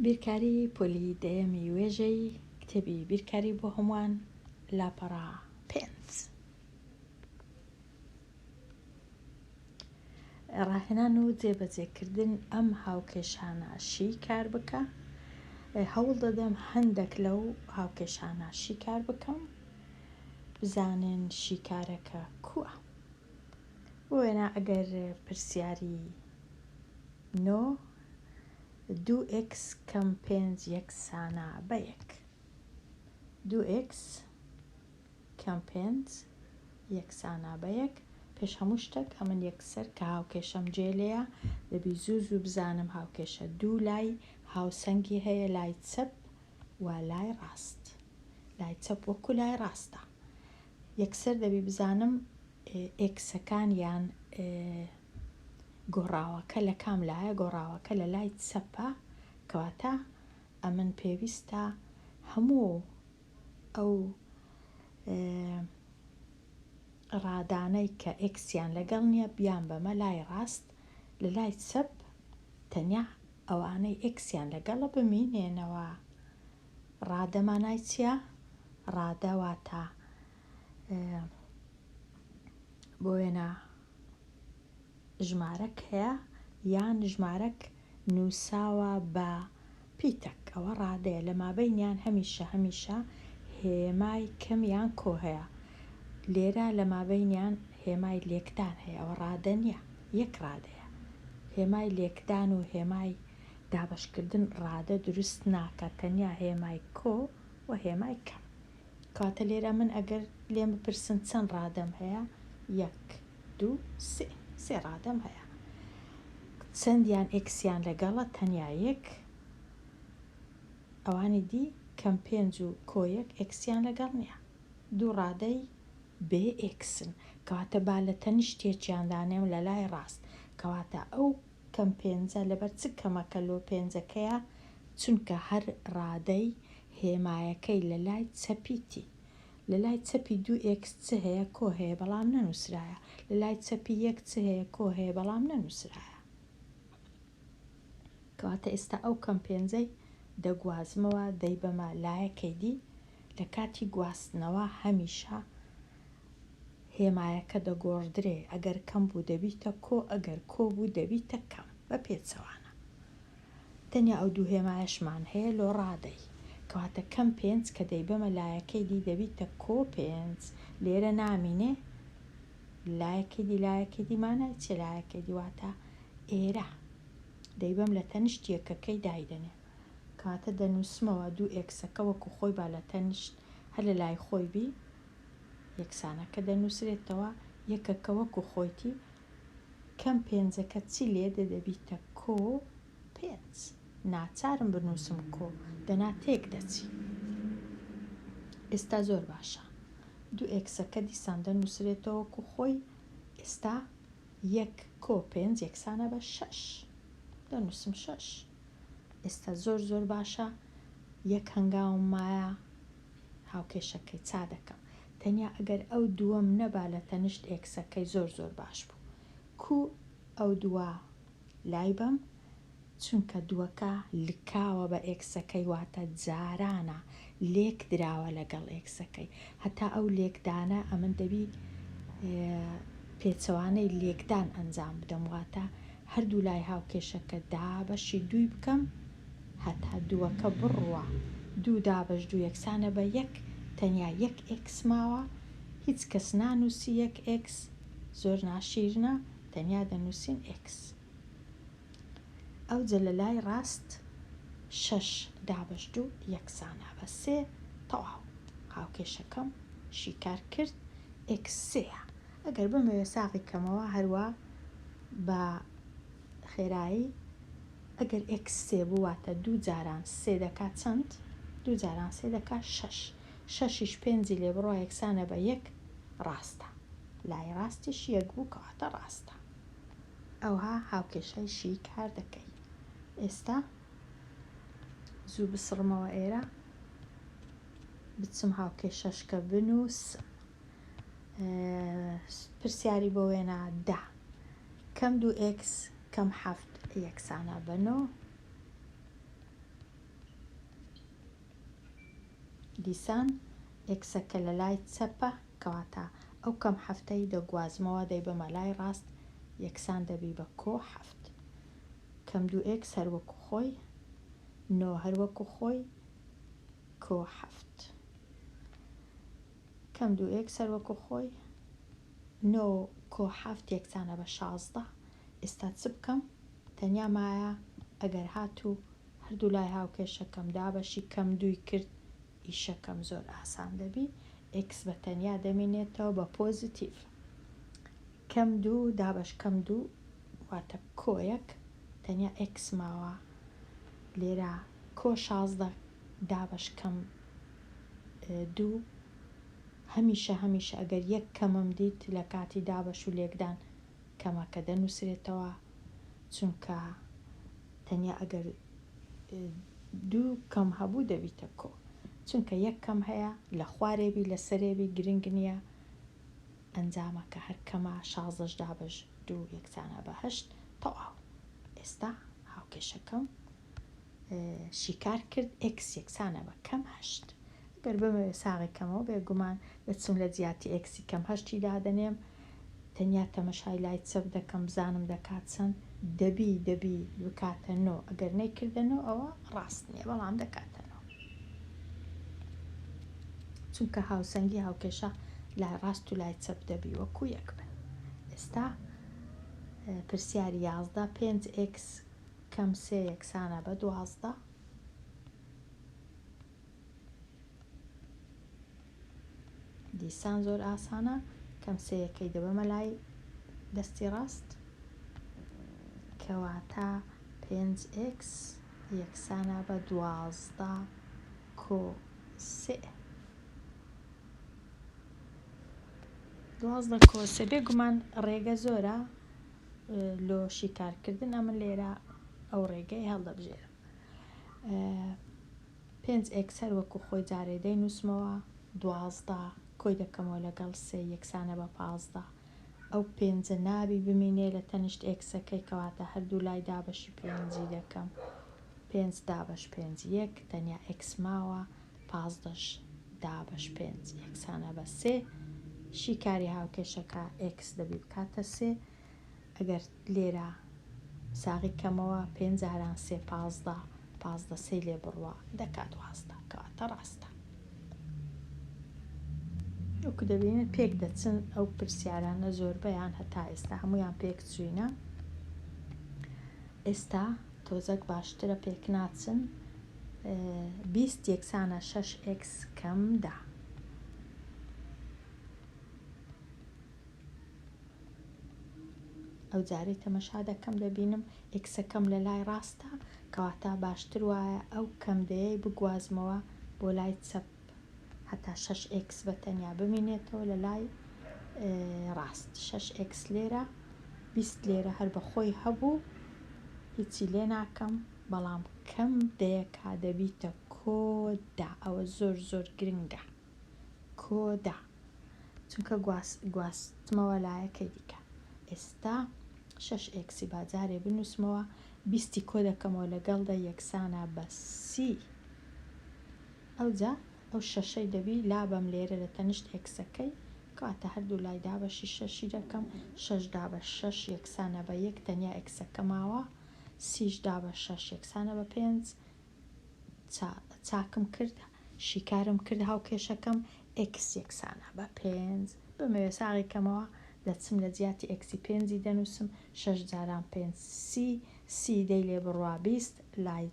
بیرکاری پۆلی دەیەمی وێژەی کتێبی بیرکاری بۆ هەمووان لاپەڕە پێنج ڕاهێنان و جێبەجێکردن ئەم هاوکێشانە شی کار بکە هەوڵ دەدەم هەندێک لەو هاوکێشانە شی کار بکەم بزانن شیکارەکە کووە بۆ وێنا ئەگەر پرسیاری نۆ دوو ئێکس کەم پێنج یەکسانە بە یەک دوو ئێکس کەم پێنج یەکسانە بە یەک پێش هەموو شتێک ئەمن یەکسەر کە هاوکێشەم جێ لێە دەبی زوو زوو بزانم هاوکێشە دوو لای هاوسەنگی هەیە لای چەپ و لای ڕاست لای چەپ وەکو لای ڕاستە یەکسەر دەبی بزانم ئێکسەکان یان گۆڕاوەکە لە کام لایە گۆڕاوەکە لە لای چەپە کەواتە ئەمن پێویستە هەموو ئەو ڕادانەی کە ئێکسیان لەگەڵ نییە بیان بەمە لای ڕاست لە لای چەپ تەنیا ئەوانەی ئێکسیان لەگەڵە بمینێنەوە. ڕادە مانای چیە؟ ڕادە واتە بۆ وێنە ژمارەک هەیە یان ژمارەک نووساوە بە پیتەک ئەوە ڕادەیە لە مابینیان هەمیشە هەمیشە هێمای کەمیان کۆ هەیە لێرە لە مابینیان هێمای لێکدان هەیە ئەوە ڕادە نییە. یەک ڕادەیە. هێمای لێکدان و هێمای دابەشکردن ڕادە دروست ناکات، تەنیا هێمای کۆ و هێمای کەم. کەواتە لێرە من ئەگەر لێم بپرسن چەند ڕادەم هەیە؟ یەک، دوو، سێ. سێ ڕادەم هەیە. چەندیان ئێکسیان لەگەڵە؟ تەنیا یەک. ئەوانی دی، کەم پێنج و کۆ یەک، ئێکسیان لەگەڵ نییە. دوو ڕادەی بێ ئێکسن، کەواتە با لە تەنیشتێکیان دانێم لە لای ڕاست، کەواتە ئەو کەم پێنجە لەبەر چ کەمەکە لۆ پێنجەکەیە، چونکە هەر ڕادەی هێمایەکەی لە لای چەپی تی. لە لای چەپی دوو ئێکس چ هەیە؟ کۆ هەیە بەڵام نەنووسرایە. لە لای چەپی یەک چ هەیە؟ کۆ هەیە بەڵام نەنووسرایە. کەواتە ئێستا ئەو کەم پێنجەی دەگوازمەوە دەیبەمە لایەکەی دی، لە کاتی گواستنەوە هەمیشە هێمایەکە دەگۆڕدرێ، ئەگەر کەم بوو دەبیتە کۆ، ئەگەر کۆ بوو دەبیتە کەم، بە پێچەوانە. تەنیا ئەو دوو هێمایەشمان هەیە لۆ ڕادەی. کەواتە کەم پێنج کە دەیبەمە لایەکەی دی دەبیتە کۆ پێنج، لێرە نامینێ؟ لایەکەی دی لایەکەی دی مانای چیە لایەکەی دی؟ واتە ئێرە دەیبەم لە تەنیشت یەکەکەی دایدەنێم. کەواتە دەنووسمەوە دوو ئێکسەکە وەکو خۆی با لە تەنیشت هەر لە لای خۆی بی یەکسانەکە دەنووسرێتەوە یەکەکە وەکو خۆیتی کەم پێنجەکە چی لێدێ دەبیتە کۆ پێنج ناچارم بنووسم کۆ دەنا تێک دەچی ئێستا زۆر باشە دوو ئێکسەکە دیسان دەنووسرێتەوە وەکو خۆی ئێستا یەک کۆ پێنج یەکسانە بە شەش دەنووسم شەش ئێستا زۆر زۆر باشە یەک هەنگاوم مایە هاوکێشەکەی چا دەکەم تەنیا ئەگەر ئەو دووەم نەبا لە تەنشت ئێکسەکەی زۆر زۆر باش بوو کوو ئەو دووە لای بەم چونکە دووەکە لکاوە بە ئێکسەکەی واتە جارانە لێک دراوە لەگەڵ ئێکسەکەی هەتا ئەو لێکدانە ئەمن دەبی پێچەوانەی لێکدان ئەنجام بدەم واتە هەردوو لای هاوکێشەکە دابەشی دووی بکەم هەتا دووەکە بڕوە دوو دابەش دوو یەکسانە بە یەک تەنیا یەک ئێکس ماوە هیچ کەس نانووسی یەک ئێکس زۆر ناشیرنە تەنیا دەنووسین ئێکس ئەوجە لە لای ڕاست شەش دابەش دوو یەکسانە بە سێ تەواو هاوکێشەکەم شیکار کرد ئێکس سێیە ئەگەر بمەوێ ساغی کەمەوە هەروا بە خێرایی ئەگەر ئێکس سێ بوو واتە دوو جاران سێ دەکات چەند دوو جاران سێ دەکات شەش شەشیش پێنجی لێ بڕوا یەکسانە بە یەک ڕاستە لای ڕاستیش یەک بوو کەواتە ڕاستە ئەوها هاوکێشای شیی کار دەکەی ئێستا زوو بسڕمەوە ئێرە بچم هاوکێشەشکە بنووسم پرسیاری بۆ وێنا دا کەم دوو ئێکس کەم حەفت یەکسانە بەنۆ دیسان ئێکسەکە لە لای چەپە کەواتە ئەو کەم حەفتەی دەگوازمەوە دەیبەمە لای ڕاست یەکسان دەبی بە کۆ حەفت. کەم دوو ئێکس هەر وەکو خۆی، نۆ هەر وەکو خۆی، کۆ حەفت. کەم دوو ئێکس هەر وەکو خۆی، نۆ کۆ حەفت یەکسانە بە شازدە. ئێستا چ بکەم؟ تەنیا مایە ئەگەر هاتوو هەردوو لای هاوکێشەکەم دابەشی کەم دووی کرد ئیشەکەم زۆر ئاسان دەبی ئێکس بە تەنیا دەمینێتەوە بە پۆزیتیڤ کەم دوو دابەش کەم دوو واتە کۆیەک تەنیا ئێکس ماوە لێرە کۆ شازدە دابەش کەم دوو هەمیشە هەمیشە ئەگەر یەک کەمم دیت لە کاتی دابەش و لێکدان کەمە کە دەنووسرێتەوە، چونکە تەنیا ئەگەر دوو کەم هەبوو دەبیتە کۆ، چونکە یەک کەم هەیە لە خوارێ بی لە سەرێ بی گرنگ نییە، ئەنجامەکە هەر کەمە، شازدەش دابەش دوو یەکسانە بە هەشت، تەواو. ئێستا هاوکێشەکەم شیکار کرد ئێکس یەکسانە بە کەم هەشت گەر بمەوێ ساغی کەمەوە بێگومان دەچم لە جیاتی ئێکسی کەم هەشتی دادەنێم تەنیا تەمەشای لای چەپ دەکەم بزانم دەکات چەند دەبی دەبی بکاتە نۆ ئەگەر نەیکردە نۆ ئەوە ڕاست نییە بەڵام دەکاتە نۆ چونکە هاوسەنگی هاوکێشە لای ڕاست و لای چەپ دەبی وەکو یەک بن ئێستا پرسیاری یازدە پێنج ئێکس کەم سێ یەکسانە بە دوازدە. دیسان زۆر ئاسانە کەم سێ یەکەی دەبەمە لای دەستی ڕاست کەواتە پێنج ئێکس یەکسانە بە دوازدە کۆ سێ. دوازدە کۆ سێ بێگومان ڕێگە زۆرە لۆ شیکارکردن ئەمن لێرە ئەو ڕێگەی هەڵدەبژێرم پێنج ئێکسەر وەکو خۆی جارێ دەی نووسمەوە دوازدە کۆی دەکەمەوە لەگەڵ سێ یەکسانە بە پازدە ئەو پێنجە نابی بمینێ لە تەنیشت ئێکسەکەی کەواتە هەردوو لای دابەشی پێنجی دەکەم پێنج دابەش پێنج یەک تەنیا ئێکس ماوە پازدە ش دابەش پێنج یەکسانە بە سێ شی کاری هاوکێشەکە ئێکس دەبی بکاتە سێ ئەگەر لێرە ساغی کەمەوە پێنج جاران سێ پازدە پازدە سێ لێ بڕوە دەکات وازدە کەواتە ڕاستە وەکو دەبینن پێک دەچن ئەو پرسیارانە زۆربەیان هەتا ئێستا هەمویان پێک چوینە ئێستا تۆزەک باشترە پێک ناچن بیست یەکسانە شەش ئێکس کەم دە. ئەو جارەی تەمەشا دەکەم دەبینم ئێکسەکەم لە لای ڕاستە کەواتە باشتر وایە ئەو کەم دەیەی بگوازمەوە بۆ لای چەپ هەتا شەش ئێکس بە تەنیا بمینێتەوە لە لای ڕاست شەش ئێکس لێرە بیست لێرە هەر بە خۆی هەبوو هیچی لێ ناکەم بەڵام کەم دەیەکا دەبیتە کۆ دا ئەوە زۆر زۆر گرنگە کۆ دا چونکە گواس گواستمەوە لایەکەی دیکە ئێستا شەش ئێکسی با جارێ بنووسمەوە بیستی کۆ دەکەمەوە لەگەڵ دە یەکسانە بە سی ئەوجا ئەو شەشەی دەبی لابەم لێرە لە تەنیشت ئێکسەکەی کەواتە هەردوو لای دابەشی شەشی دەکەم شەش دابە شەش یەکسانە بە یەک تەنیا ئێکسەکە ماوە سیش دا بە شەش یەکسانە بە پێنج چا چاکم کرد شیکارم کرد هاوکێشەکەم ئێکس یەکسانە بە پێنج بمەوێ ساغی کەمەوە دەچم لە جیاتی ئێکسی پێنجی دەنووسم شەش جاران پێنج سی سی دەی لێ بڕوا بیست لای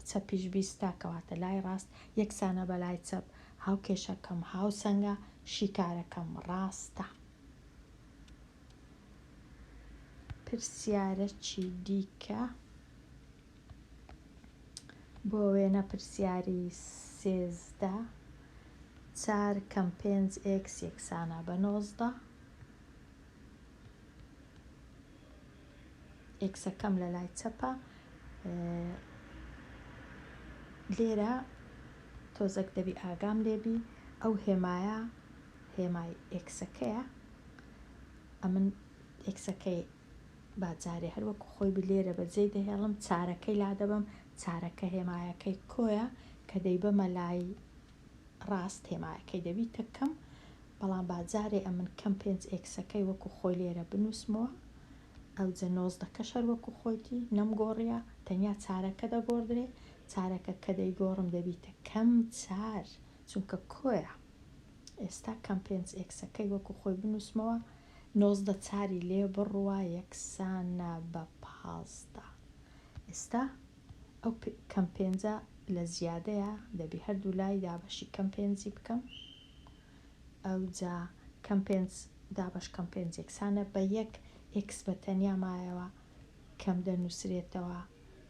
چەپیش بیستە کەواتە لای ڕاست یەکسانە بە لای چەپ هاوکێشەکەم هاوسەنگە شیکارەکەم ڕاستە پرسیارەکی دیکە، بۆ وێنە پرسیاری سێزدە، چار کەم پێنج ئێکس یەکسانە بە نۆزدە، ئێکسەکەم لە لای چەپە لێرە تۆزەک دەبی ئاگام لێبی ئەو هێمایە هێمای ئێکسەکەیە ئەمن ئێکسەکەی با جارێ هەر وەکو خۆی بلێرە بە جێی دەهێڵم چارەکەی لادەبم چارەکە هێمایەکەی کۆیە کە دەیبەمە لای ڕاست هێمایەکەی دەبیتە کەم بەڵام با جارێ ئەمن کەم پێنج ئێکسەکەی وەکو خۆی لێرە بنووسمەوە ئەوجە نۆزدەکەش هەر وەکو خۆیتی نەمگۆڕیە تەنیا چارەکە دەگۆڕدرێ چارەکە کە دەیگۆڕم دەبیتە کەم چار چونکە کۆیە ئێستا کەم پێنج ئێکسەکەی وەکو خۆی بنووسمەوە، نۆزدە چاری لێ بڕوا یەکسانە بە پازدە. ئێستا ئەو کەم پێنجە لە زیادەیە، دەبی هەردوو لای دابەشی کەم پێنجی بکەم، ئەوجا کەم پێنج دابەش کەم پێنج یەکسانە بە یەک، ئێکس بە تەنیا مایەوە کەم دەنووسرێتەوە،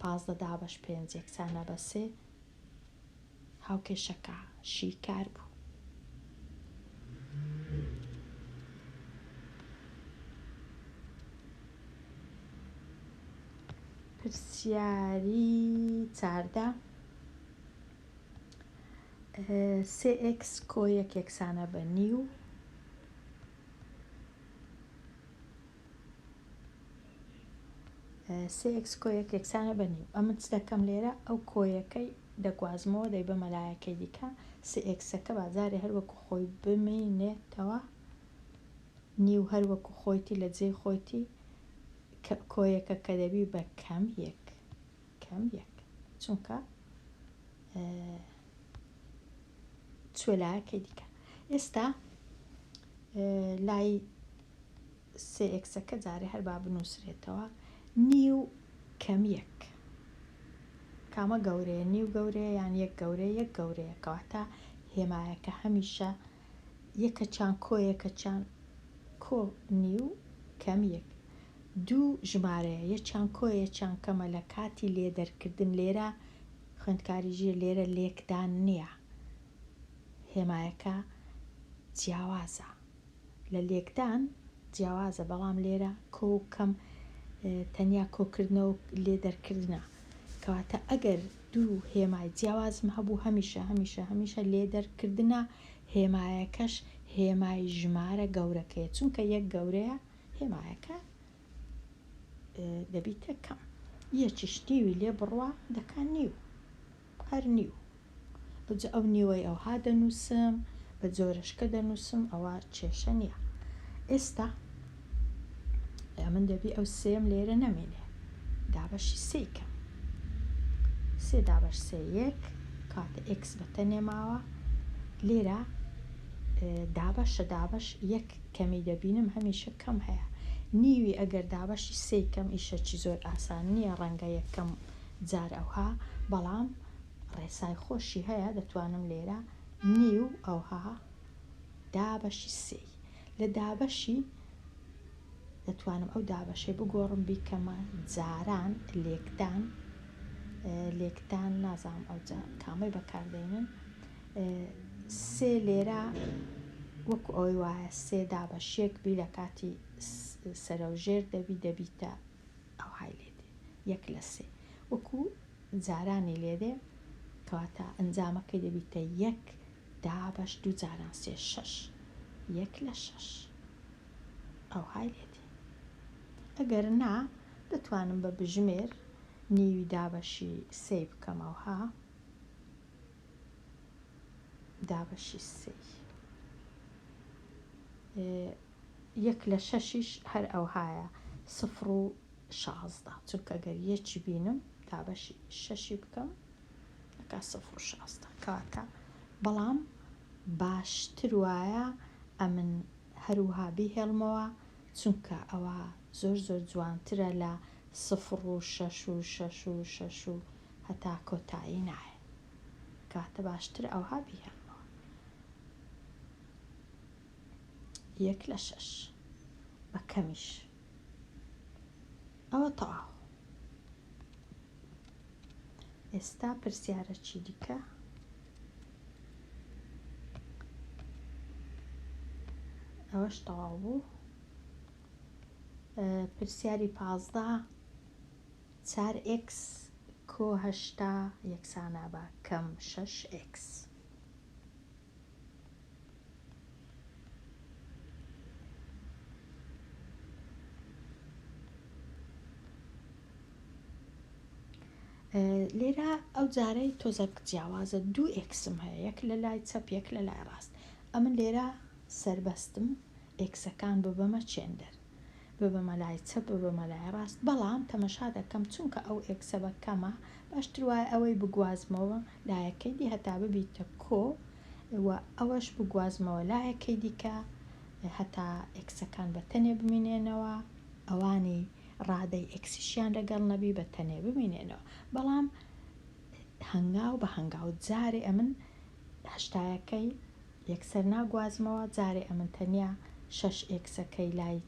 پازدە دابەش پێنج یەکسانە بە سێ. هاوکێشەکە شیکار بوو. پرسیاری چاردە، سێ ئێکس کۆ یەک یەکسانە بە نیو. سێ ئێکس کۆیەک یەکسانە بە نیو ئەمن چ دەکەم لێرە ئەو کۆیەکەی دەگوازمەوە دەی بە مەلایەکەی دیکە سێ ئێکسەکە بازارێ هەروەکو خۆی بمینێتەوە نیو هەروەکو خۆیتی لە جێی خۆیتی کۆیەکە کە دەبی بە کەم یەک کەم یەک چونکە چوە لایەکەی دیکە ئێستا لای سێ ئێکسەکە جارێ هەر با بنووسرێتەوە نیو کەمیەک کامە گەورەیە نیو گەورەیە یان یەک گەورەیە یەک گەورەیە کەواتە هێمایەکە هەمیشە یەکەچان کۆ یەکەچان کۆ نیو کەم یەک دوو ژمارەیە یەچان کۆ یەچان کەمە لە کاتی لێ دەرکردن لێرە خوێندکاری ژیر لێرە لێکدان نییە هێمایەکە جیاوازە لە لێکدان جیاوازە بەڵام لێرە کۆ کەم تەنیا کۆکردنەوە لێ دەرکردنە کەواتە ئەگەر دوو هێمای جیاوازم هەبوو هەمیشە هەمیشە هەمیشە لێ دەرکردنە هێمایەکەش هێمای ژمارە گەورەکەیە چونکە یەک گەورەیە هێمایەکە دەبیتە کەم یەکیش نیوی لێ بڕوا دەکان نیو هەر نیو ئەوجە ئەو نیوەی ئەوها دەنووسم بە جۆرەشکە دەنووسم ئەوە کێشە نییە ئێستا ئەیا من دەبی ئەو سێم لێرە نەمێنێ دابەشی سێ کەم سێ دابەش سێ یەک کاتە ئکس بە تەنێ ماوە لێرە دابەشە دابەش یەک کەمی دەبینم هەمیشە کەم هەیە نیوی ئەگەر دابەشی سێ کەم ئیشەکی زۆر ئاسان نییە ڕەنگە یەکەم جار ئەوها بەڵام ڕێسای خۆشی هەیە دەتوانم لێرە نیو ئەوها دابەشی سێ لە دابەشی دەتوانم ئەو دابەشێ بگۆڕم بیکەمە جاران لێکدان لێکدان نازانم ئەو کامەی بەکاردێنن سێ لێرە وەکو ئەوەی وایە سێ دابەشێک بی لە کاتی سەرەوژێر دەبی دەبیتە ئەو های لێدێ یەک لە سێ وەکو جارانی لێدێ کەواتە ئەنجامەکەی دەبیتە یەک دابەش دوو جاران سێ شەش یەک لە شەش ئەوهای لێ دێ ئەگەر نا دەتوانم بە بژمێر نیوی دابەشی سێی بکەم ئەوها دابەشی سێی یەک لە شەشیش هەر ئەوهایە سفر و شازدە چونکە گەر یەکی بینم دابەشی شەشی بکەم دەکا سفر و شازدە کەواتە بەڵام باشتر وایە ئەمن هەروها بیهێڵمەوە چونکە ئەوە زۆر زۆر جوانترە لە سفر و شەش و شەش و شەش و هەتا کۆتایی نایە کەواتە باشتر ئەوها بیهێڵمەوە یەک لە شەش بە کەمیش ئەوە تەواو ئێستا پرسیارەکی دیکە. ئەوەش تەواو بوو پرسیاری پازدە چار ئێکس کۆ هەشتا یەکسانە بە کەم شەش ئێکس لێرە ئەو جارەی تۆزەک جیاوازە دوو ئکسم هەیە یەک لە لای چەپ یەک لە لای ڕاست ئەمن لێرە سربەستم ئکسەکان ببەمە چێندەر بە بە مەلای چەپ بە بە مەلای ڕاست بەڵام تەمەشا دەکەم چونکە ئەو ئێکسە بە کەمە باشتر وایە ئەوەی بگوازمەوە لایەکەی دی هەتا ببیتە کۆ و ئەوەش بگوازمەوە لایەکەی دیکە هەتا ئێکسەکان بە تەنێ بمینێنەوە ئەوانی ڕادەی ئێکسیشیان لەگەڵ نەبی بە تەنێ بمینێنەوە بەڵام هەنگاو بە هەنگاو جارێ ئەمن هەشتایەکەی یەکسەر ناگوازمەوە جارێ ئەمن تەنیا شەش ئێکسەکەی لای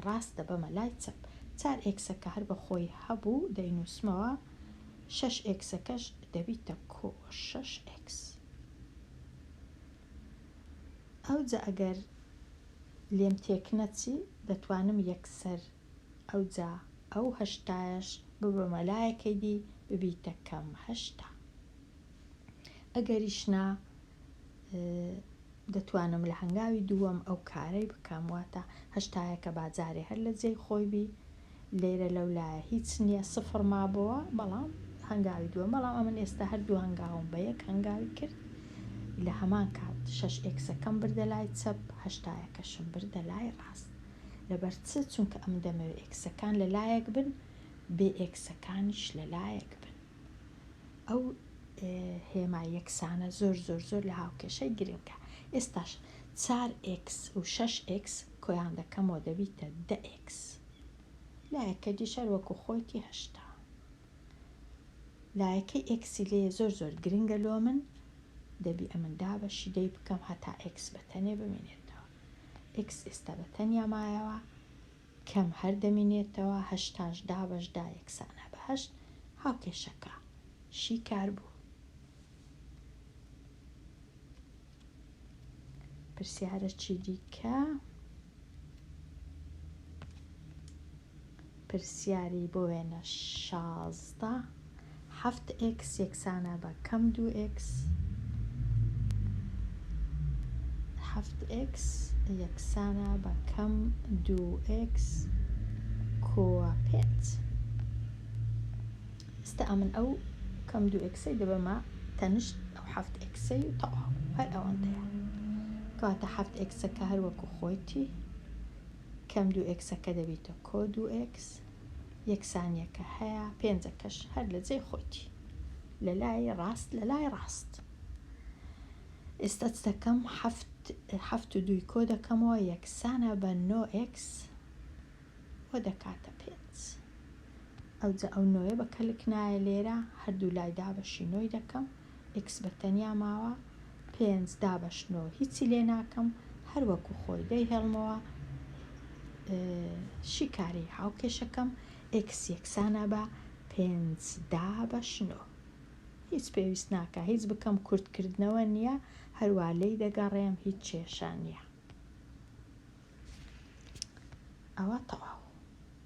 ڕاست دەبەمە لای چەپ چار ئێکسەکە هەر بە خۆی هەبوو دەینووسمەوە شەش ئێکسەکەش دەبیتە کۆ شەش ئێکس ئەوجە ئەگەر لێم تێک نەچی دەتوانم یەکسەر ئەوجا ئەو هەشتایەش ببەمە لایەکەی دی ببیتە کەم هەشتا. ئەگەریش نا دەتوانم لە هەنگاوی دووەم ئەو کارەی بکەم واتە هەشتایەکە باجارێ هەر لە جێی خۆی بی لێرە لەو لایە هیچ نییە سفر مابەوە بەڵام هەنگاوی دووە بەڵام ئەمن ئێستا هەردوو هەنگاوم بە یەک هەنگاوی کرد لە هەمان کات شش ئێکسەکەم بردە لای چەپ هەشتایەکەشم بردە لای ڕاست لەبەر چ چونکە ئەم دەمەوێت ئێکسەکان لە لایەک بن بێ ئێکسەکانیش لە لایەک بن ئەو هێما یەکسانە زۆر زۆر زۆر لە هاوکێشەی گرنگە ئێستاش چار ئکس و شش ئکس کۆیان دەکەمەوە دەبیتە دە ئکس لایەکە دیشەر وەکو خۆیتی هەشتا لایەکەی ئکسی لێ زۆر زۆر گرنگە لۆ من دەبی ئەمن دابەشی دەی بکەم هەتا ئکس بەتەنێ بمێنێتەوە ئکس ئێستا بەتەنیا مایەوە کەم هەر دەمینێتەوە هەشتاش دابەش دا یەکسانە بە هەشت هاوکێشەکە شیکار بوو. پرسیارەکی دیکە پرسیاری بۆ وێنە شازدە حەفت ئێکس یەکسانە بە کەم دوو ئێکس حەفت ئێکس یەکسانە بە کەم دوو ئێکس کۆوە پێت ئێستا ئەمن ئەو کەم دوو ئێکسەی دەبەمە تەنشت ئەو حەفت ئێکسەی و تەواو هەر ئەوەندەیە کەواتە حەفت ئێکسەکە هەر وەکو خۆیتی کەم دوو ئێکسەکە دەبیتە کۆ دوو ئێکس یەکسانیەکە هەیە پێنجەکەش هەر لە جێی خۆیتی لە لای ڕاست لە لای ڕاست ئێستا چ دەکەم هەفت و دووی کۆ دەکەمەوە یەکسانە بە نۆ ئکس و دەکاتە پێنج ئەوجا ئەو نۆیە بە کەلک نایە لێرە هەردوو لای دابەشی نۆی دەکەم ئیکس بە تەنیا ماوە پێنج دابەش نۆ هیچی لێ ناکەم هەر وەکو خۆی دەی هێڵمەوە شیکاری هاوکێشەکەم ئکس یەکسانە بە پێنج دا بەشنۆ هیچ پێویست ناکە هیچ بکەم کورتکردنەوە نییە هەروە لی دەگەڕێم هیچ کێشە نییە ئەوە تەواو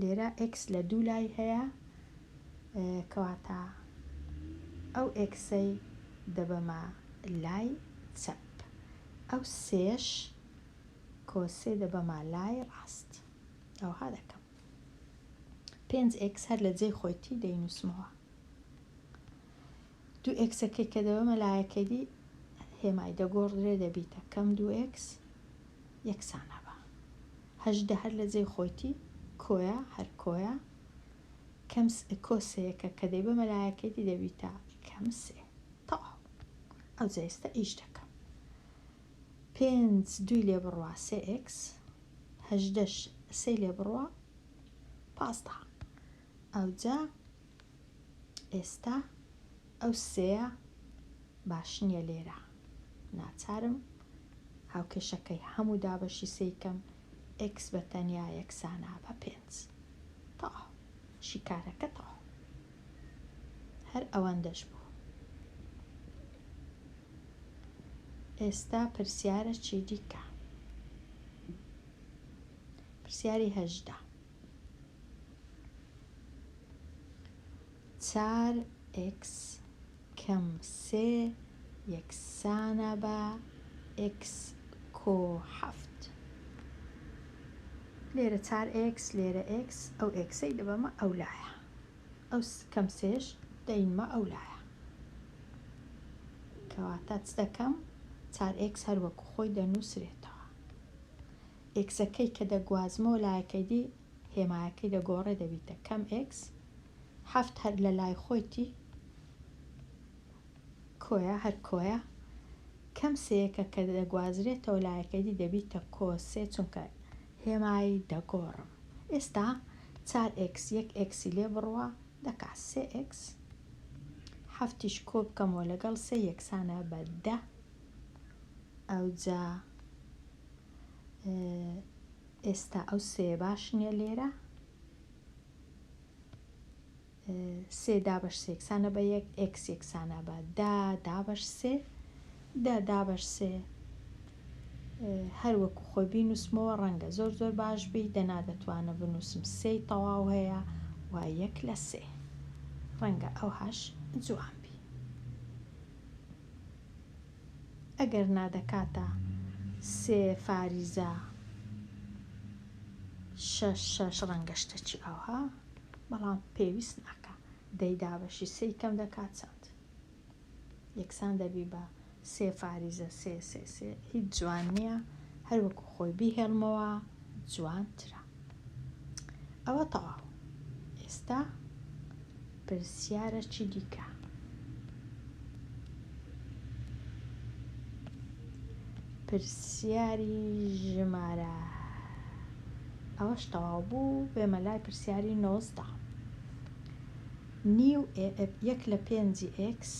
لێرە ئێکس لە دوو لای هەیە کەواتە ئەو ئێکسەی دەبەمە لای چەپ ئەو سێش کۆسێ دەبەمە لای ڕاست ئەوها دەکەم پێنج ئێکس هەر لە جێی خۆیتی دەینووسمەوە دوو ئێکسەکەی کە دەبە مەلایەکەری هێمای دەگۆڕدرێ دەبیتە کەم دوو ئێکس یەکسان هەبا هەژدە هەر لە جێی خۆیتی کۆیە هەر کۆیە کەم س کۆ سێەکە کە دەیبە مەلایەکەری دەبیتە کەم سێ تەواو ئەو جێستە ئیش دەکەم پێنج دووی لێ بڕوا سێ ئێکس هەژدەش سێ لێ بڕوا پازدە ئەوجا ئێستا ئەو سێیە باش نییە لێرە ناچارم هاوکێشەکەی هەموو دابەشی سێی کەم ئێکس بە تەنیا یەکسانە بە پێنج تا شیکارەکە تا هەر ئەوەندەش بوو ئێستا پرسیارە چی دیکە پرسیاری هەژدا چار ئێکس کەم سێ یەکسانە بە ئێکس کۆ حەفت. لێرە چار ئێکس لێرە ئێکس ئەو ئێکسەی دەبەمە ئەو لایە ئەو کەم سێش دەینمە ئەو لایە کەواتە چ دەکەم چار ئێکس هەروەکو خۆی دەنووسرێتەوە ئێکسەکەی کە دەگوازمەوە لایەکەیدی هێمایەکەی دەگۆڕێ دەبیتە کەم ئێکس هەفت هەر لە لای خۆیتی کۆیە هەر کۆیە کەم سێیەکە کە دەگوازرێتەوە لایەکەیدی دەبیتە کۆ سێ چونکە هێمای دەگۆڕم ئێستا چار ئێکس یەک ئێکسی لێ بڕوا دەکا سێ ئێکس حەفتیش کۆ بکەمەوە لەگەڵ سێ یەکسانە بە دە ئەوجا ئێستا ئەو سێ باش نییە لێرە سێ دابش سێکسانە بە یەک ئکس یەکسانە بە دا دابش سێ دا دابش سێ هەر وەکو خۆی بینوسمەوە ڕەنگە زۆر زۆر باش بی دەنا دەتوانە بنووسم سێ تەواو هەیە و یەک لە سێ ڕەنگە ئەوهاش جوان بی ئەگەرنا دەکاتە سێ فاریزە شەش شەش ڕەنگە شتەچی ئاوها بەڵام پێویست ناکە دەی دابەشی سێی کەم دەکات چەند یەکسان دەبی بە سێ فاریزە سێ سێ سێ هیچ جوان نییە هەروەکو خۆی بیهێڵمەوە جوانترە ئەوە تەواو ئێستا پرسیارە چی دیکە پرسیاری ژمارە ئەوەش تەواو بوو بێمە لای پرسیاری نۆزدە نیو یەک لە پێنجی ئکس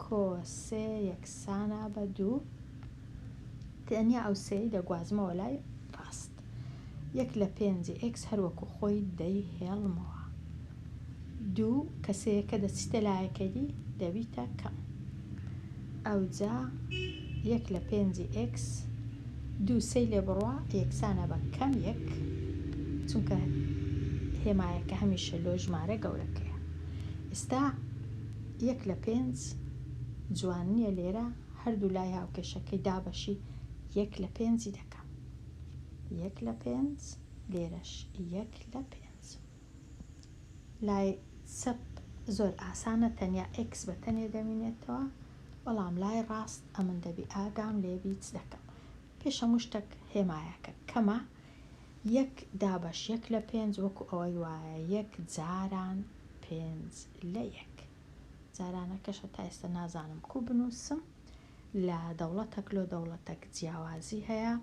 کۆ سێ یەکسانە بە دوو. تەنیا ئەو سێی دەگوازمەوە لای ڕاست. یەک لە پێنجی ئێکس هەر وەکو خۆی دەیهێڵمەوە. دوو کە سێیەکە دەچیتە لایەکەی دی دەبیتە کەم. ئەوجا یەک لە پێنجی ئێکس دوو سێی لێ بڕوا یەکسانە بە کەم یەک چونکە هێمایەکە هەمیشە لۆ ژمارە گەورەکەیە. ئێستا یەک لە پێنج جوان نیە لێرە هەردوو لای هاوکێشەکەی دابەشی یەک لە پێنجی دەکەم یەک لە پێنج لێرەش یەک لە پێنج لای چەپ زۆر ئاسانە تەنیا ئێکس بە تەنێ دەمینێتەوە بەڵام لای ڕاست ئەمن دەبی ئاگام لێبیچ دەکەم پێشەموو شتەک هێمایەکە کەمە یەک دابەش یەک لە پێنج وەکو ئەوەی وایە یەک جاران پێنج لە یەک جارانەکەش هەتا ئێستا نازانم کو بنووسم لە دەوڵەتەک لۆ دەوڵەتەک جیاوازی هەیە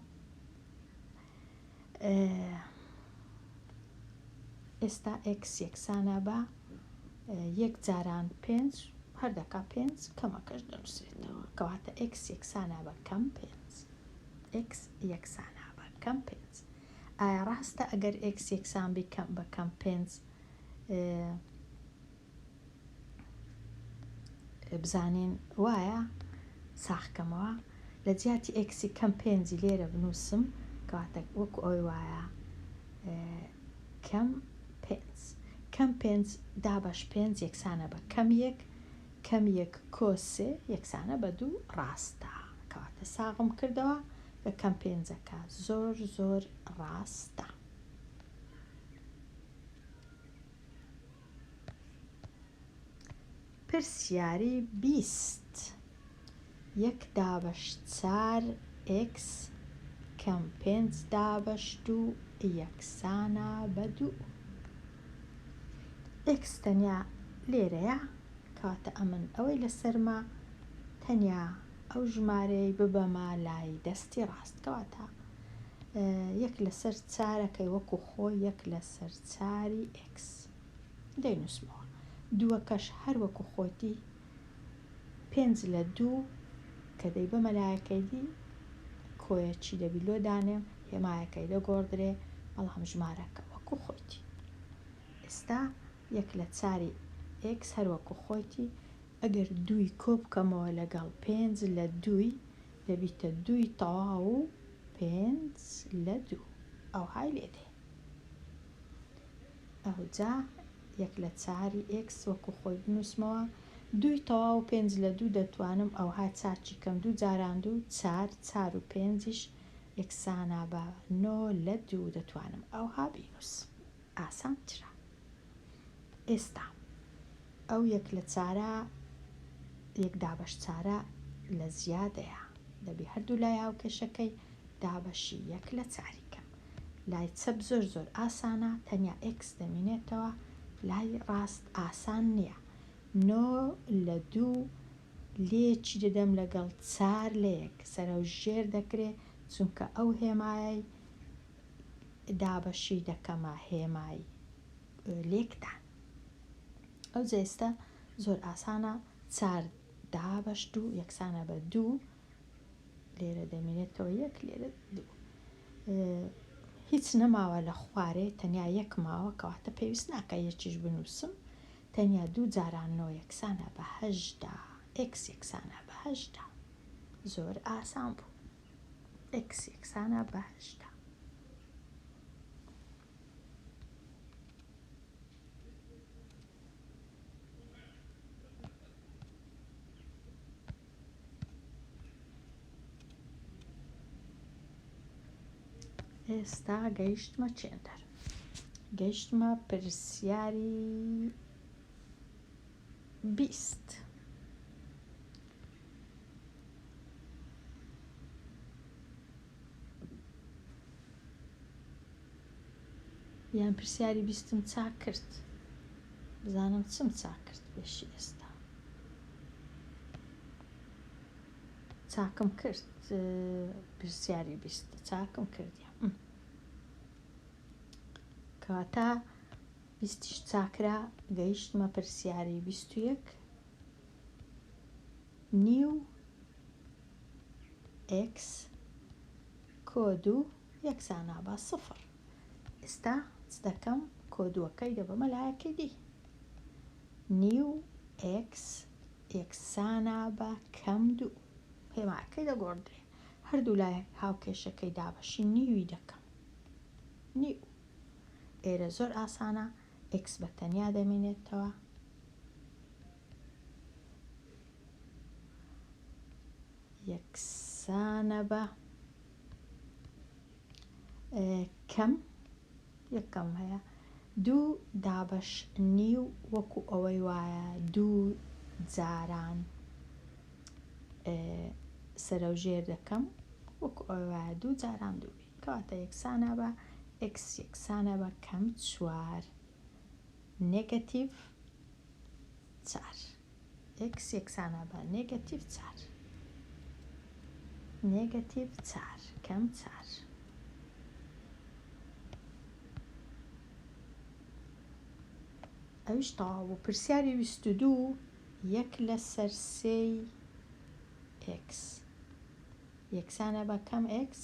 ئێستا ئکس یەکسانە بە یەک جاران پێنج هەردەکە پێنج کەمەکەش دەنووسێتەوە کەواتە ئکس یەکسانە بە کەم پێنج ئێکس یەکسان ە بە کەم پێنج ئایا ڕاستە ئەگەر ئێکس یەکسان بی کەم بە کەم پێنج بزانین وایە ساخکەمەوە لە جیاتی ئێکسی کەم پێنجی لێرە بنووسم کەواتە وەکو ئەوی وایە کەم پێنج کەم پێنج دابش پێنج یەکسانە بە کەم یەک کەم یەک کۆ سێ یەکسانە بە دوو ڕاستە کەواتە ساغم کردەوە کە کەم پێنجەکە زۆر زۆر ڕاستە پرسیاری بیست یەک دابەش چار ئێکس کەم پێنج دابەش دوو یەکسانە بە دوو. ئێکس تەنیا لێرەیە کەواتە ئەمن ئەوەی لەسەرمە تەنیا ئەو ژمارەی ببەمە لای دەستی ڕاست کەواتە یەک لەسەر چارەکەی وەکو خۆ یەک لەسەر چاری ئێکس دەینوسمەوە دووەکەش هەر وەکو خۆتی پێنج لە دوو کە دەی بە مەلایەکەیدی کۆیە چی دەبی لۆ دانێم هێمایەکەی لە گۆڕدرێ بەڵام ژمارەکە وەکو خۆیتی ئێستا یەک لە چاری ئێکس هەروەکو خۆیتی ئەگەر دووی کۆ بکەمەوە لەگەڵ پێنج لە دووی دەبیتە دووی تەواو و پێنج لە دوو ئەوهای لێ دێ ئەوجا یەک لە چاری ئێکس وەکو خۆی بنووسمەوە دووی تەواو و پێنج لە دوو دەتوانم ئەوها چاکی کەم دوو جاران دوو چار چار و پێنجیش یەکسانە بە نۆ لە دوو دەتوانم ئەوها بینووسم ئاسانترە. ئێستا ئەو یەک لە چارە یەک دابەش چارە لە زیادەیە دەبی هەردوو لای هاوکێشەکەی دابەشی یەک لە چاری کەم لای چەپ زۆر زۆر ئاسانە تەنیا ئکس دەمینێتەوە لای ڕاست ئاسان نییە نۆ لە دوو لێکی دەدەم لەگەڵ چار لە یەک سەرە و ژێر دەکرێ چونکە ئەو هێمایەی دابەشی دەکەمە هێمای لێکدان ئەو جێستە زۆر ئاسانە چار دابەش دوو یەکسانە بە دوو لێرە دەمێنێتەوە یەک لێرە دوو هیچ نەماوە لە خوارێ تەنیا یەک ماوە کەواتە پێویست ناکە یەکیش بنووسم تەنیا دوو جارانەوە یەکسانە بەهشدا ئکس یەکسانە بەهشدا زۆر ئاسان بوو ئێکس یەکسانە بە هەشتا. ئێستا گەیشتمە چێندەر گەیشتمە پرسیاری بیست. یان پرسیاری بیستم چاک کرد بزانم چم چاک کرد پێشی ئێستا چاکم کرد پرسیاری بیست چاکم کردی کەواتە بیستیش چاکرا گەیشتمە پرسیاری بیست و یەک نیو ئێکس کۆ دوو یەکسانە بە سفر ئێستا چ دەکەم کۆ دووەکەی دەبەمە لایەکی دی نیو ئێکس یەکسانە بە کەم دوو هێماکەی دەگۆڕدرێ هەردوو لای هاوکێشەکەی دابەشی نیوی دەکەم نیو ئێرە زۆر ئاسانە ئێکس بە تەنیا دەمێنێتەوە. یەکسانە بە کەم یەکەم هەیە دوو دابش نیو وەکو ئەوەی وایە دوو جاران سەرەوژێر دەکەم وەکو ئەوەیە دوو جاران دووبی کەواتە یەکسانە بە ئێکس یەکسانە بە کەم چوار نێگەتیڤ چار ئێکس یەکسانە بە نێگەتیڤ چار نێگەتیڤ چار کەم چار ئەویش تەواو بوو پرسیاری ویست و دوو یەک لەسەر سێی ئێکس یەکسانە بە کەم ئێکس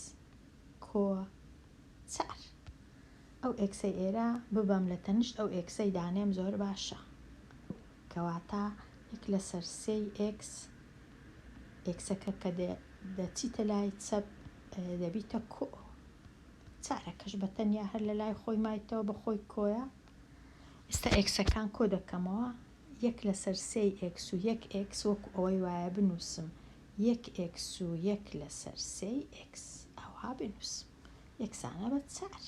کۆچەر. ئەو ئێکسەی ئێرە ببەم لە تەنیشت ئەو ئێکسەی دانێم زۆر باشە. کەواتە یەک لەسەر سێی ئێکس، ئێکسەکە کە دەچیتە لای چەپ دەبیتە کۆ. چارەکەش بە تەنیا هەر لە لای خۆی مایتەوە بە خۆی کۆیە. ئێستا ئێکسەکان کۆ دەکەمەوە، یەک لەسەر سێی ئێکس و یەک ئێکس وەکو ئەوەی وایە بنووسم یەک ئێکس و یەک لەسەر سێی ئێکس ئەوها بنووس یەکسانە بە چار.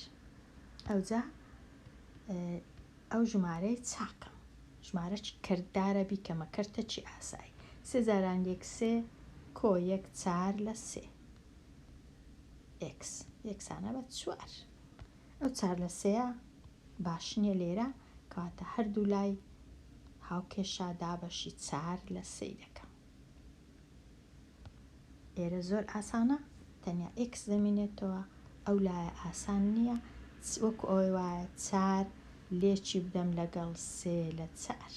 ئەوجا ئەو ژمارەی چاکە. ژمارە چ کەرتدارە بیکەمە کەرتە چی ئاسایی. سێ جاران یەک سێ کۆ یەک چار لە سێ ئێکس یەکسانە بە چوار. ئەو چار لە سێیە باش نییە لێرە کەواتە هەردوو لای هاوکێشە دابەشی چار لە سێی دەکەم. لێرە زۆر ئاسانە تەنیا ئێکس دەمینێتەوە ئەو لایە ئاسان نییە وەکو ئەوەی وایە چار لێکی بدەم لەگەڵ سێ لە چار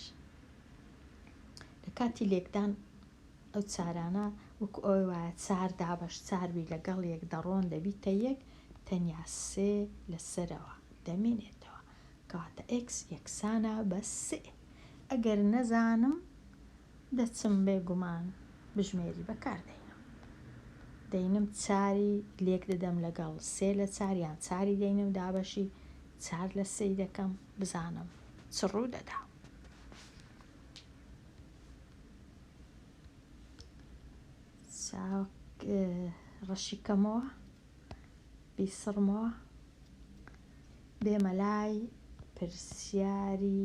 لە کاتی لێکدان ئەو چارانە وەکو ئەوەی وایە چار دابەش چاربی لەگەڵ یەک دەڕۆن دەبیتە یەک تەنیا سێ لەسەرەوە دەمێنێتەوە کەواتە ئێکس یەکسانە بە سێ ئەگەر نەزانم دەچم بێ گومان بژمێری بەکار دەینم دەینم چاری لێک دەدەم لەگەڵ سێ لە چار یان چاری دەینم دابەشی چار لە سێی دەکەم بزانم چ ڕوو دەدا. چاک ڕەشی کەمەوە بیسڕمەوە بێمە لای پرسیاری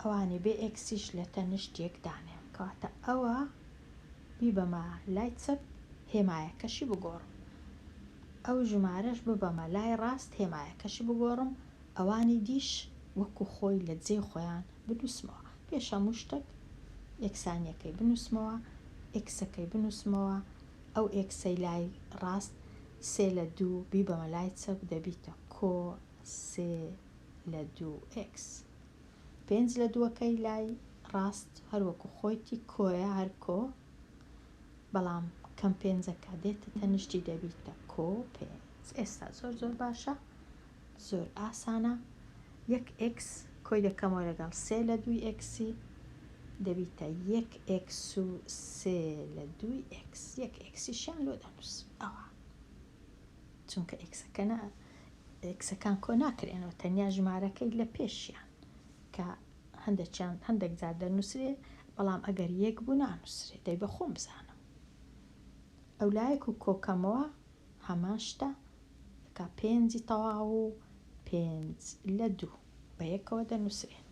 ئەوانێ بێ ئێکسیش لە تەنشت یەک دانێ کەواتە ئەوە بیبەمە لای چەپ هێمایەکەشی بگۆڕم ئەو ژمارەش ببەمە لای ڕاست هێمایەکەشی بگۆڕم ئەوانی دیش وەکو خۆی لە جێی خۆیان بنووسمەوە پێش هەموو شتەک یەکسانیەکەی بنووسمەوە ئێکسەکەی بنووسمەوە ئەو ئێکسەی لای ڕاست سێ لە دوو بیبەمە لای چەپ دەبیتە کۆ سێ لە دوو ئێکس. پێنج لە دووەکەی لای ڕاست هەر وەکو خۆیتی کۆیە هەر کۆ بەڵام کەم پێنجەکە دێتە تەنیشتی دەبیتە کۆ پێنج ئێستا زۆر زۆر باشە زۆر ئاسانە یەک ئێکس کۆی دەکەمەوە لەگەڵ سێ لە دووی ئێکسی دەبیتە یەک ئێکس و سێ لە دووی ئێکس یەک ئێکسیشیان لۆ دەنووس ئەوە چونکە ئێکسەکە نا ئێکسەکان کۆ ناکرێنەوە تەنیا ژمارەکەی لە پێشیان کە هەندێکیان هەندێک جار دەنووسرێ بەڵام ئەگەر یەک بوو نانووسرێ دەی بە خۆم بزانم ئەو لایەک و کۆکەمەوە هەمان شتە کا پێنجی تەواو و پێنج لە دوو بە یەکەوە دەنووسرێن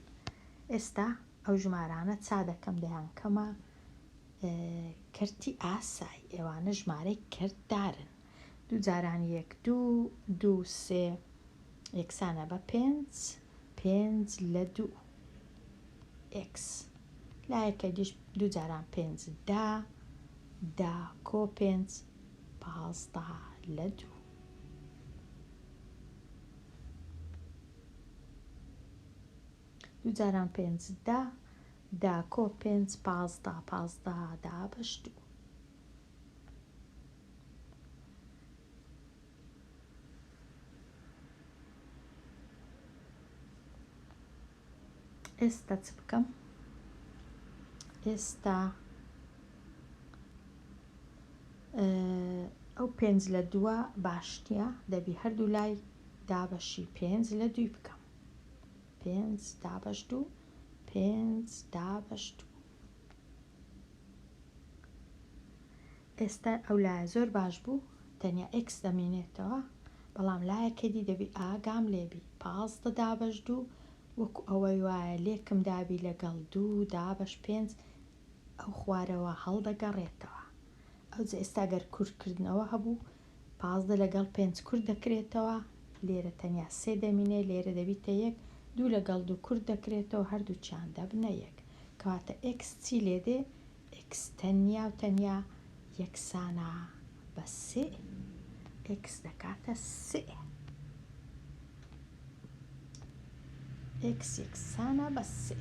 ئێستا ئەو ژمارانە چا دەکەم دەیان کەمە کەرتی ئاسای، ئێوانە ژمارەی کەرت دارن. دوو جاران یەک دوو، دوو سێ یەکسانە بە پێنج، پێنج لە دوو ئێکس. لایەکە دیش دوو جاران پێنج دە، دە کۆ پێنج پازدە لە دوو. دوو جاران پێنج دە، داکۆ پێنج پازدە پازدە دابەش دوو. ئێستا چ بکەم ئێستا ئەو پێنج لە دووە باشتە دەبی هەردوو لای دابەشی پێنج لە دووی بکەم پێنج دابەش دوو پێنج دابەش دوو ئێستا ئەو لایە زۆر باش بوو تەنیا ئێکس دەمێنێتەوە بەڵام لایەکە دی دەبی ئاگام لێبی پازدە دابەش دوو وەکو ئەوەی وایە لێکم دابی لەگەڵ دوو دابەش پێنج ئەو خوارەوە هەڵدەگەڕێتەوە ئەوجە ئێستا گەر کورتکردنەوە هەبوو پازدە لەگەڵ پێنج کورت دەکرێتەوە، لێرە تەنیا سێ دەمینێ، لێرە دەبیتە یەک، دوو لەگەڵ دوو کورت دەکرێتەوە، هەردووکیان دەبنە یەک. کەواتە ئێکس چی لێ دێ؟ ئێکس تەنیا و تەنیا یەکسانە بە سێ. ئێکس دەکاتە سێ. ئێکس یەکسانە بە سێ.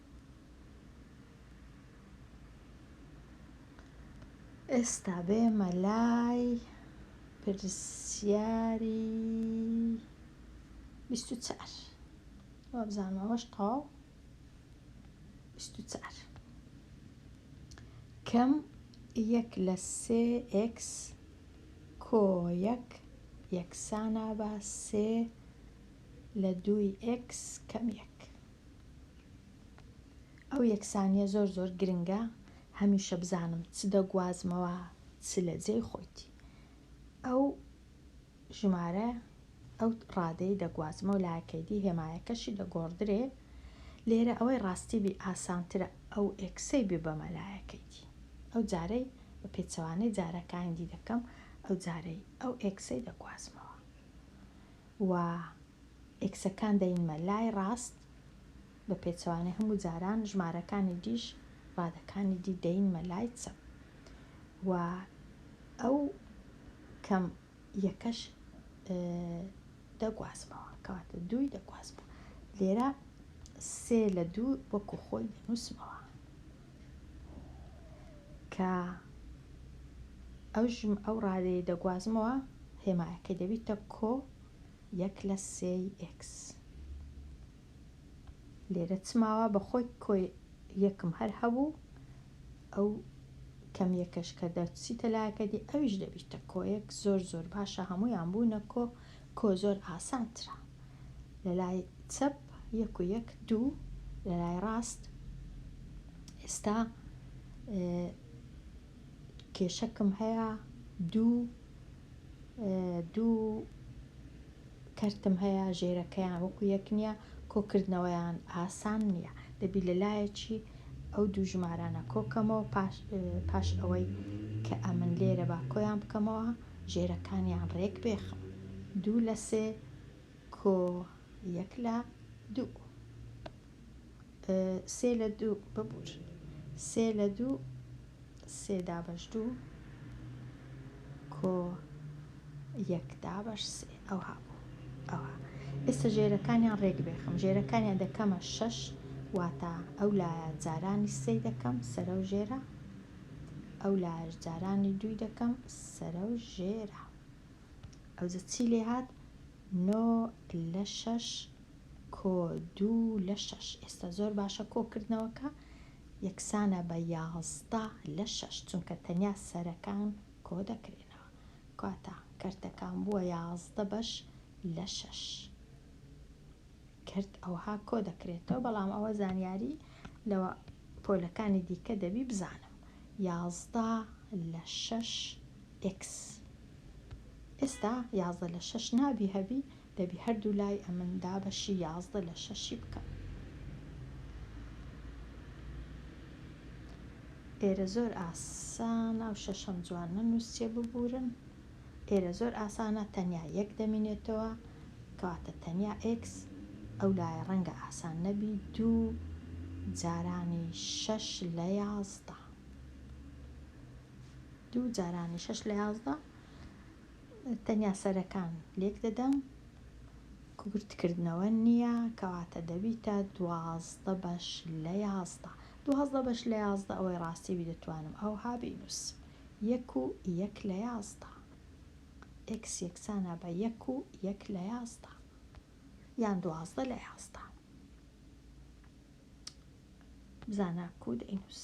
ئێستا بێمە لای پرسیاری بیست و چار وابزانم ئەوەش تەواو بیست و چار کەم یەک لە سێ ئێکس کۆ یەک یەکسانە بە سێ لە دووی ئێکس کەم یەک ئەو یەکسانیە زۆر زۆر گرنگە هەمیشە بزانم چ دەگوازمەوە چ لە جێی خۆیتی ئەو ژمارە ئەو ڕادەی دەگوازمەوە لاکەیدی هێمایەکەشی دەگۆڕدرێ لێرە ئەوەی ڕاستی بی ئاسانترە ئەو ئێکسەی بێ بەمە لایەکەیتی ئەو جارەی بە پێچەوانەی جارەکانی دی دەکەم ئەو جارەی ئەو ئێکسەی دەگوازمەوە و ئێکسەکان دەینمە لای ڕاست بە پێچەوانەی هەموو جاران ژمارەکانی دیش ڕادەکانی دی دەینمە لای چەپ و ئەو کەم یەکەش دەگوازمەوە کەواتە دووی دەگوازمەوە لێرە سێ لە دوو وەکو خۆی دەنووسمەوە کە ئەژم ئەو ڕادەیە دەگوازمەوە هێمایەکەی دەبیتە کۆ یەک لە سێی ئێکس لێرە چماوە بە خۆی کۆی یەکم هەر هەبوو ئەو کەم یەکەش کە دەچیتە لایەکە دی ئەویش دەبیتە کۆیەک زۆر زۆر باشە هەموویان بوونە کۆ کۆ زۆر ئاسانترە لە لای چەپ یەک و یەک دوو لە لای ڕاست ئێستا کێشەکم هەیە دوو دوو کەرتم هەیە ژێرەکەیان وەکو یەک نییە کۆکردنەوەیان ئاسان نییە دەبی لە لایەکی ئەو دوو ژمارانە کۆکەمەوە پاش پاش ئەوەی کە ئەمن لێرە با کۆیان بکەمەوە ژێرەکانیان ڕێک بێخم دوو لە سێ کۆ یەک لە دوو سێ لە دوو ببور سێ لە دوو سێ دابش دوو کۆ یەک دابش سێ ئەو هابوو ئەوە ئێستا ژێرەکانیان ڕێک بێخم ژێرەکانیان دەکەمە شەش واتە ئەو لایە جارانی سێ دەکەم سەرە و ژێرە ئەو لایەش جارانی دووی دەکەم سەرە و ژێرە ئەوجە چی لێ هات نۆ لە شەش کۆ دوو لە شەش ئێستا زۆر باشە کۆکردنەوەکە یەکسانە بە یازدە لە شەش چونکە تەنیا سەرەکان کۆ دەکرێنەوە کاتە کەرتەکان بووە یازدە بەش لە شەش کرد ئەوها کۆ دەکرێتەوە بەڵام ئەوە زانیاری لەوە پۆلەکانی دیکە دەبی بزانم یازدە لە شەش ئێکس ئێستا یازدە لە شەش نابی هەبی دەبی هەردوو لای ئەمن دابەشی یازدە لە شەشی بکەم ئێرە زۆر ئاسان ئەو شەشەم جوان نەنووسێ ببورن ئێرە زۆر ئاسانە تەنیا یەک دەمینێتەوە کەواتە تەنیا ئێکس ئەو لایە ڕەنگە ئاسان نەبی دوو جارانی شەش لە یازدە دوو جارانی شەش لە یازدە تەنیا سەرەکان لێک دەدەم کورتکردنەوە نییە کەواتە دەبیتە دوازدە بەش لە یازدە دوازدە بەش لە یازدە ئەوەی ڕاستی بی دەتوانم ئەوها بینووسم یەک و یەک لە یازدە. ئێکس یەکسانە بە یەک و یەک لە یازدە یان دوازدە لە یازدە. بزانە کوو دەینووس.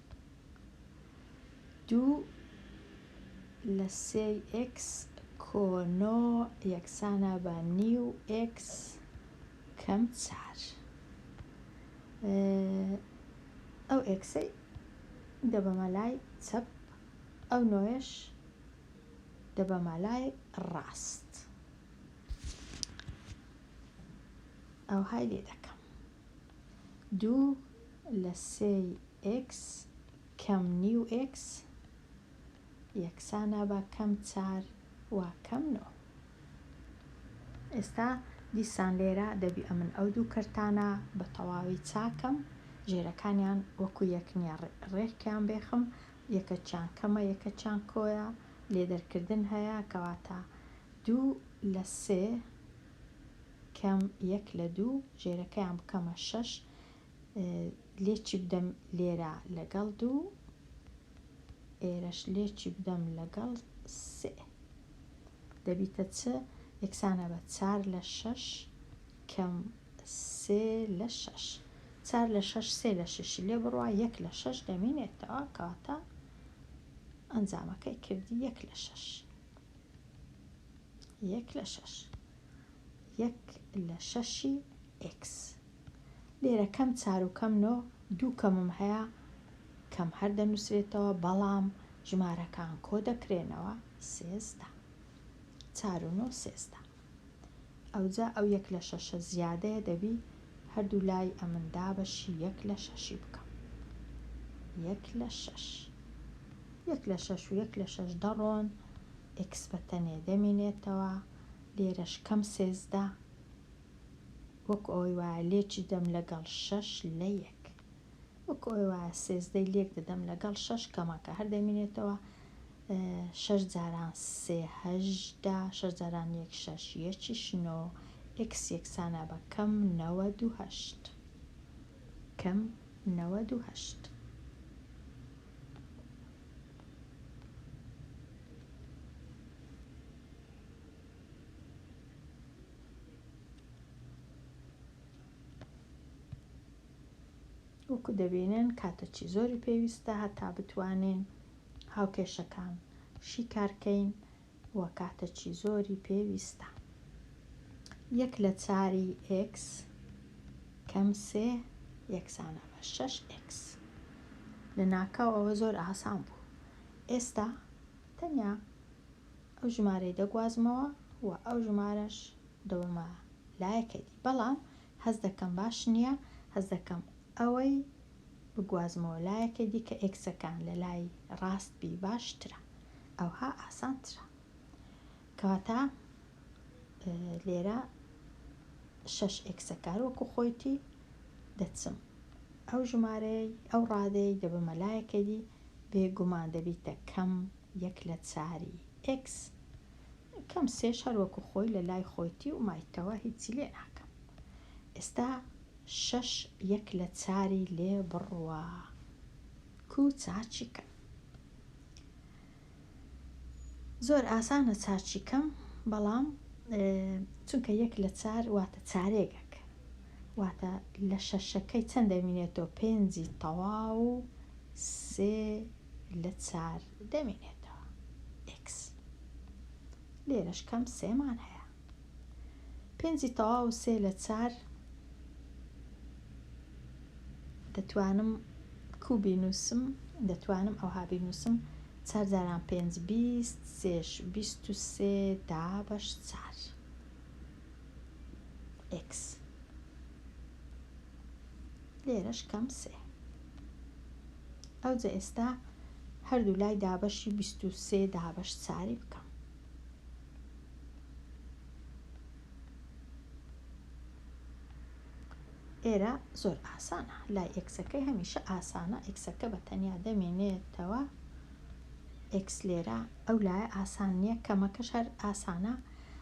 دوو لە سێی ئێکس کۆنۆ یەکسانە بە نیو ئێکس کەم چار ئەو ئێکسەی دەبەمە لای چەپ ئەو نۆیش دەبەمە لای ڕاست ئەوهای لێ دەکەم دوو لە سێی ئێکس کەم نیو ئێکس یەکسانە بە کەم چار وا کەم نۆ. ئێستا دیسان لێرە دەبی ئەمن ئەو دوو کەرتانە بە تەواوی چاکەم، ژێرەکانیان وەکو یەک نییە ڕێکیان بێخم، یەکەکیان کەمە یەکەکیان کۆیە، لێدەرکردن هەیە کەواتە دوو لە سێ، کەم یەک لە دوو ژێرەکەیان بکەمە شەش لێ چی بدەم لێرە لەگەڵ دوو ئێرەش لێ چی بدەم لەگەڵ سێ دەبیتە چ یەکسانە بە چار لە شەش کەم سێ لە شەش چار لە شەش سێ لە شەشی لێ بڕوا یەک لە شەش دەمینێتەوە کاتە ئەنجامەکەی کردی یەک لە شەش یەک لە شەش یەک لە شەشی ئێکس لێرە کەم چار و کەم نۆ دوو کەمم هەیە کەم هەر دەنووسرێتەوە بەڵام ژمارەکان کۆ دەکرێنەوە سێزدە چار و نۆ سێزدە ئەوجا ئەو یەک لە شەشە زیادەیە دەبی هەردوو لای ئەمن دابەشی یەک لە شەشی بکەم یەک لە شەش یەک لە شەش و یەک لە شەش دەڕۆن ئکس بە تەنێ دەمینێتەوە لێرەش کەم سێزدە وەکو ئەوەی وایە لێکی دەم لەگەڵ شەش لە یەک وەکو ئەوەی وایە سێزدەی لێک دەدەم لەگەڵ شەش کەمەکە هەر دەمینێتەوە شەش جاران سێ هەژدە شەش جاران یەک شەش یەکیش نۆ ئێکس یەکسانە بە کەم نەوەد و هەشت کەم نەوەد و هەشت وەکو دەبینن کاتەکی زۆری پێویستە هەتا بتوانین هاوکێشەکان شیکارکەین و کاتەچی زۆری پێویستە یەک لە چاری ئێکس کەم سێ یەکسانە بە شەش ئێکس لە ناکاو ئەوە زۆر ئاسان بوو ئێستا تەنیا ئەو ژمارەی دەگوازمەوە و ئەو ژمارەش دەوەمە لایەکەدی بەڵام هەز دەکەم باش نییە هەز دەکەم ئەوەی بگوازمەوە لایەکە دیکە ئێکسەکەم لە لای ڕاست بی باشترە ئەوها ئاسانترە کەواتە لێرە شەش ئێکسەکار وەکو خۆیتی دەچم ئەو ژمارەی ئەو ڕادەی دەبمە لایەکە دی بێگومان دەبیتە کەم یەک لە چاری ئێکس کەم سێش هەر وەکو خۆی لە لای خۆیتی و مایتەوە هیچی لێ ناکەم ئێستا شەش یەک لە چاری لێ بڕوا کو چاچی کەم زۆر ئاسانە چاچی کەم بەڵام چونکە یەک لە چار واتە چارێگەک واتە لە شەشەکەی چەند دەمینێتەوە پێنجی تەواو سێ لە چار دەمینێتەوە ئێکس لێرەش کەم سێمان هەیە پێنجی تەواو سێ لە چار دەتوانم کوبی نووسم دەتوانم ئەوها بینووسم چار جاران پێنج بیست سێش بیست و سێ دا بەش چار ئێکس لێرەش کەم سێ ئەوجە ئێستا هەردوو لای دابەشی بیست و سێ دابەش چاری بکەم ئێرە زۆر ئاسانە لای ئێکسەکەی هەمیشە ئاسانە ئێکسەکە بە تەنیا دەمێنێتەوە ئێکس لێرە ئەو لایە ئاسان نیە کەمەکەش هەر ئاسانە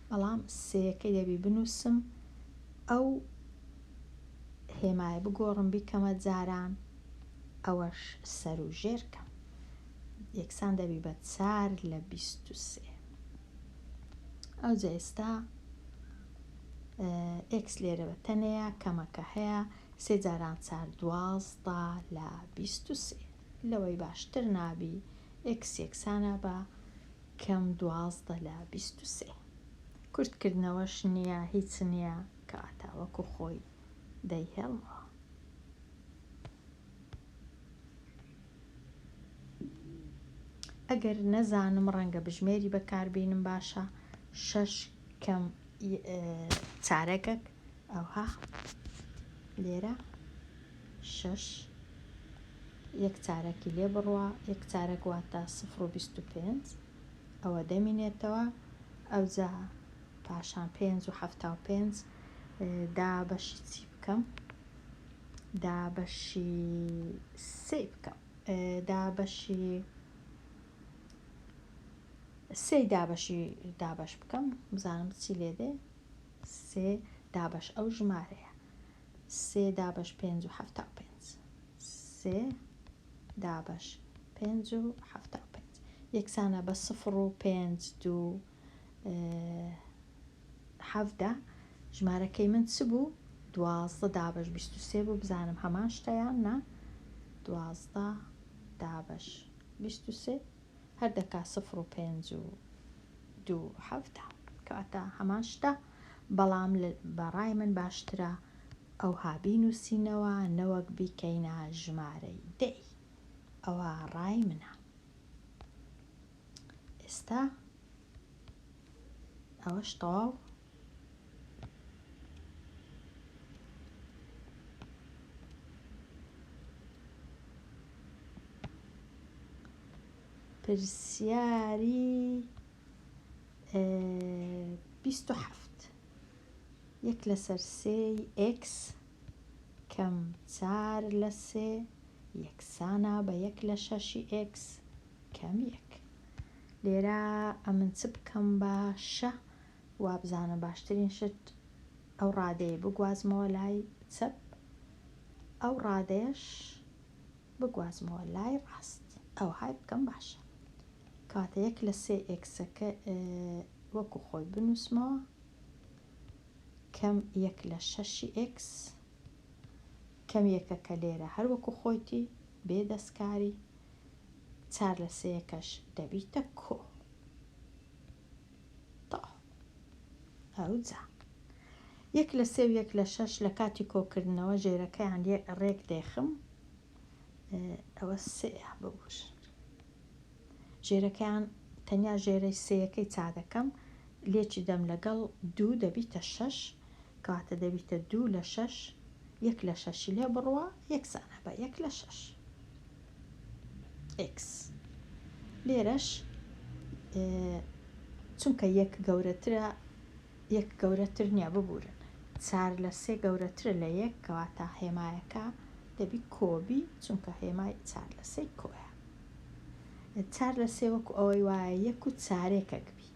بەڵام سێیەکەی دەبی بنوسم ئەو هێمایە بگۆڕم بیکەمە جاران ئەوەش سەرو ژێر کەم یەکسان دەبی بە چار لە بیست و سێ ئەوجا ئێستا ئێکس لێرە بە تەنەیە کەمەکە هەیە سێ جاران چار دوازدە لە بیست و سێ لەوەی باشتر نابی ئێکس یەکسانە بە کەم دوازدە لە بیست و سێ. کورتکردنەوەش نییە، هیچ نییە، کەواتە وەکو خۆی دەیهێڵمەوە. ئەگەر نەزانم ڕەنگە بژمێری بەکاربینم باشە شەش کەم چارەکەک ئەوها لێرە شەش یەک چارەکی لێ بڕوا یەک چارەک واتە سفر و بیست و پێنج ئەوە دەمینێتەوە ئەوجا پاشان پێنج و حەفتا و پێنج دا بەشی چی بکەم دا بەشی سێ بکەم دا بەشی سێ دابەشی دابەش بکەم بزانم چی لێ دێ سێ دابەش ئەو ژمارەیە. سێ دابەش پێنج و حەفتا و پێنج. سێ دابەش پێنج و حەفتا و پێنج. یەکسانە بە سفر و پێنج دوو حەڤدە. ژمارەکەی من چ بوو؟ دوازدە دابەش بیست و سێ بوو بزانم هەمان شتەیان نا. دوازدە دابەش بیست و سێ. هەر دەکا سفر و پێنج و دوو حەفتا کەواتە هەمان شتە بەڵام بە ڕای من باشترە ئەوها بینوسینەوە نەوەک بیکەینە ژمارەی دەی ئەوە ڕای منە ئێستا ئەوەش تەواو پرسیاری بیست و حەفت یەک لەسەر سێی ئێکس کەم چار لە سێ یەکسانە بە یەک لە شەشی ئێکس کەم یەک لێرە ئەمن چ بکەم باشە وابزانم باشترین شت ئەو ڕادەیە بگوازمەوە لای چەپ ئەو ڕادەیەش بگوازمەوە لای ڕاست ئەوهای بکەم باشە کاتە یەک لە سێ ئێکسەکە وەکو خۆی بنووسمەوە کەم یەک لە شەشی ئێکس کەم یەکەکە لێرە هەر وەکو خۆیتی بێ دەستکاری چار لە سێەکەش دەبیتە کۆ تاء ئەو جا یەک لە سێ و یەک لە شەش لە کاتی کۆکردنەوە ژێرەکەیان لێ ڕێک دێخم ئەوە سێە ببووش ژێرەکەیان تەنیا ژێرەی سێەکەی چا دەکەم لێکی دەم لەگەڵ دوو دەبیتە شەش کاتە دەبیتە دوو لە شەش یەک لە شەشی لێ بڕوە یەکسانە بە یەک لە شەش x لێرەش چونکە یەک گەورەترە یەک گەورەتر نییە ببورن چار لە سێ گەورەترە لە یەک کەواتە هێمایەکە دەبی کۆبی چونکە هێمای چار لە سێ کۆیە چار لە سێ وەکو ئەوەی وایە یەک و چارێکەک بی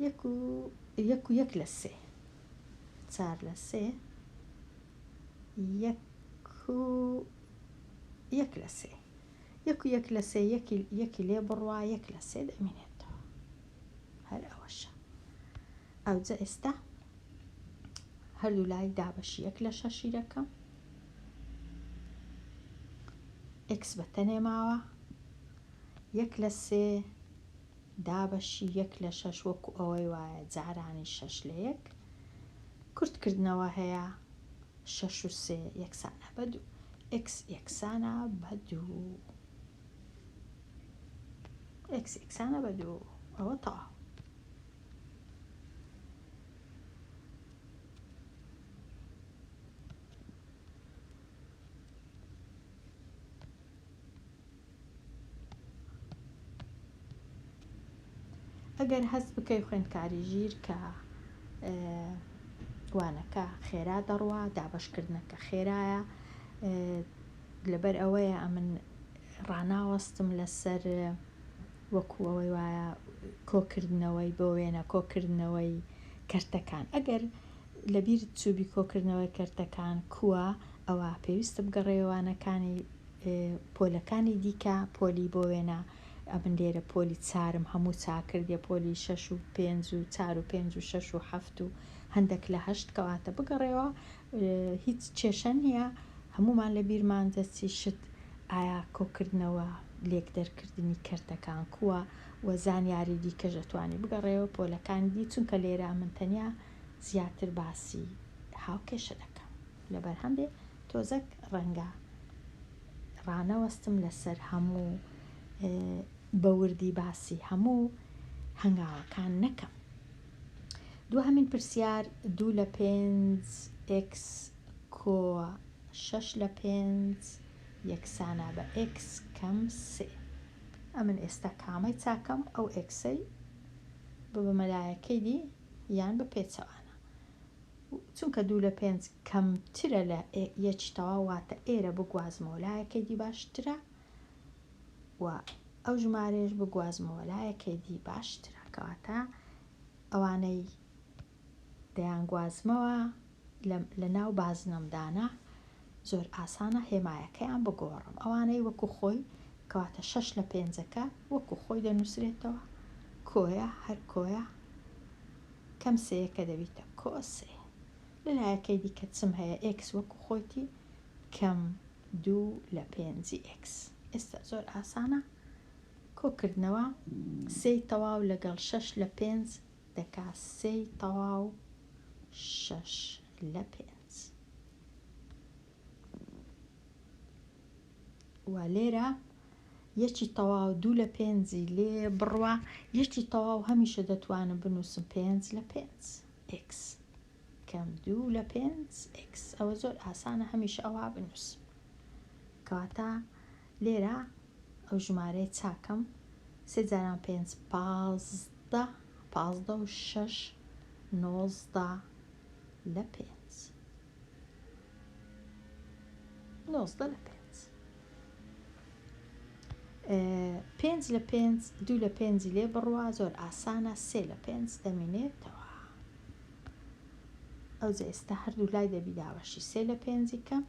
یەک و یەک و یەک لە سێ چار لە سێ یەک و یەک لە سێ یەک و یەک لە سێ یەکی یەکی لێ بڕوا یەک لە سێ دەمێنێتەوە هەر ئەوەشە ئەوجە ئێستا هەردوو لای دابەشی یەک لە شەشی دەکەم ئکس بە تەنێ ماوە یەک لە سێ دابەشی یەک لە شەش وەکو ئەوەی وایە جارانیش شەش لە یەک کورت کردنەوە هەیە، شەش و سێ یەکسانە بە دوو، ئێکس یەکسانە بە دوو. ئێکس یەکسانە بە دوو ئەوە تەواو. ئەگەر هەست بکەی خوێندکاری ژیر کە وانەکە خێرا دەڕوا دابشکردنەکە خێرایە لەبەر ئەوەیە ئەمن ڕناوەستم لەسەر وەکوەوەی وایە کۆکردنەوەی بۆ وێنە کۆکردنەوەی کەرتەکان ئەگەر لەبیر چوبی کۆکردنەوەی کەرتەکان کووە ئەوە پێویستە بگەڕێوانەکانی پۆلەکانی دیکە پۆلی بۆ وێنە ئەمن لێرە پۆلی چارم هەموو چاکردە پۆلی شەش و پێنج و چار و پێنج و شەش و حەفت و هەندێک لە هەشت کەواتە بگەڕێەوە هیچ کێشە نییە هەمومان لە بیرمان دەچی شت ئایا کۆکردنەوە لێک دەرکردنی کەرتەکان کووە و زانیاری دیکەش ئەتوانی بگەڕێەوە پۆلەکانی دی چونکە لێرە من تەنیا زیاتر باسی هاوکێشە دەکەم لەبەرهەم بێ تۆزەک ڕەنگە ڕانەوەستم لەسەر هەموو بەوردی باسی هەموو هەنگاوەکان نەکەم دو هەمین پرسیار دوو لە پێنج ئکس کۆ شەش لە پێنج یەکسانە بە ئکس کەم سێ ئەمن ئێستا کامەی چاکەم ئەو ئکسەی ببمەلایەکەی دی یان بە پێچەوانە چونکە دوو لە پێنج کەمترە لە یەکی تەواو واتە ئێرە بگوازمەوە لایەکەی دی باشترە و ئەو ژمارەیەش بگوازمەوە لایەکەی دی باشترە کەواتە ئەوانەی دەیانگوازمەوە لە ناو بازنەمدانە زۆر ئاسانە هێمایەکەیان بگۆڕم ئەوانەی وەکو خۆی کەواتە شەش لە پێنجەکە وەکو خۆی دەنووسرێتەوە کۆیە هەر کۆیە کەم سێیەکە دەبیتە کۆ سێ. لە لایەکەی دیکە چم هەیە ئێکس وەکو خۆیتی کەم دوو لە پێنجی ئێکس. ئێستا زۆر ئاسانە کۆکردنەوە، سێی تەواو لەگەڵ شەش لە پێنج دەکا سێی تەواو شەش لە پێنج. وا لێرە یەکی تەواو دوو لە پێنجی لێ بڕوا یەکی تەواو هەمیشە دەتوانم بنووسم پێنج لە پێنج x کەم دوو لە پێنج x ئەوە زۆر ئاسانە هەمیشە ئەوە بنووسم کەواتە لێرە ئەو ژمارەیە چاکەم سێ جاران پێنج پازدە پازدە و شەش نۆزدە لە پێنج نۆزدە لە پێنج پێنج لە پێنج دوو لە پێنجی لێ بڕوا زۆر ئاسانە سێ لە پێنج دەمینێتەوە ئەو جە ئێستا هەردوو لای دەبی داوەشی سێ لە پێنجی کەم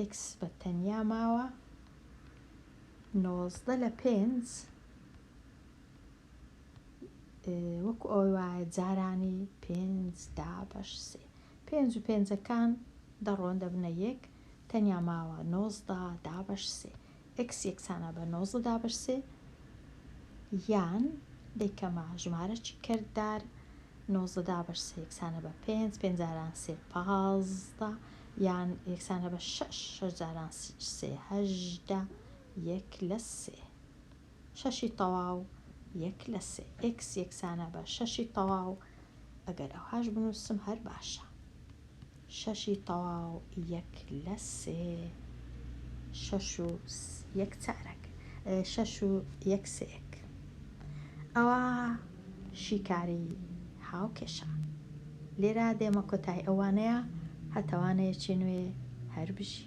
ئکس بە تەنیا ماوە نۆزدە لە پێنج وەکو ئەوەی وایە جارانی پێنج دابەش سێ پێنج و پێنجەکان دەڕۆن دەبنە یەک تەنیا ماوە نۆزدە دابەش سێ ئەکس یەکسانە بە نۆزدە دابەش سێ یان دەیکەمە ژمارەکی کردار نۆزدە دابەش سێ یەکسانە بە پێنج پێنجاران سێ پازدە یان یەکسانە بە شەش شەش جاران سێ هەژدە یەک لە سێ شەشی تەواو یەک لە سێ ئێکس یەکسانە بە شەشی تەواو ئەگەر ئەوهاش بنووسم هەر باشە شەشی تەواو یەک لە سێ شەش و یەک چارەک شەش و یەک سێک ئەوە شیکاری هاوکێشە لێرا دێمە کۆتای ئەوانەیە هەتەوانەیەکی نوێ هەربژی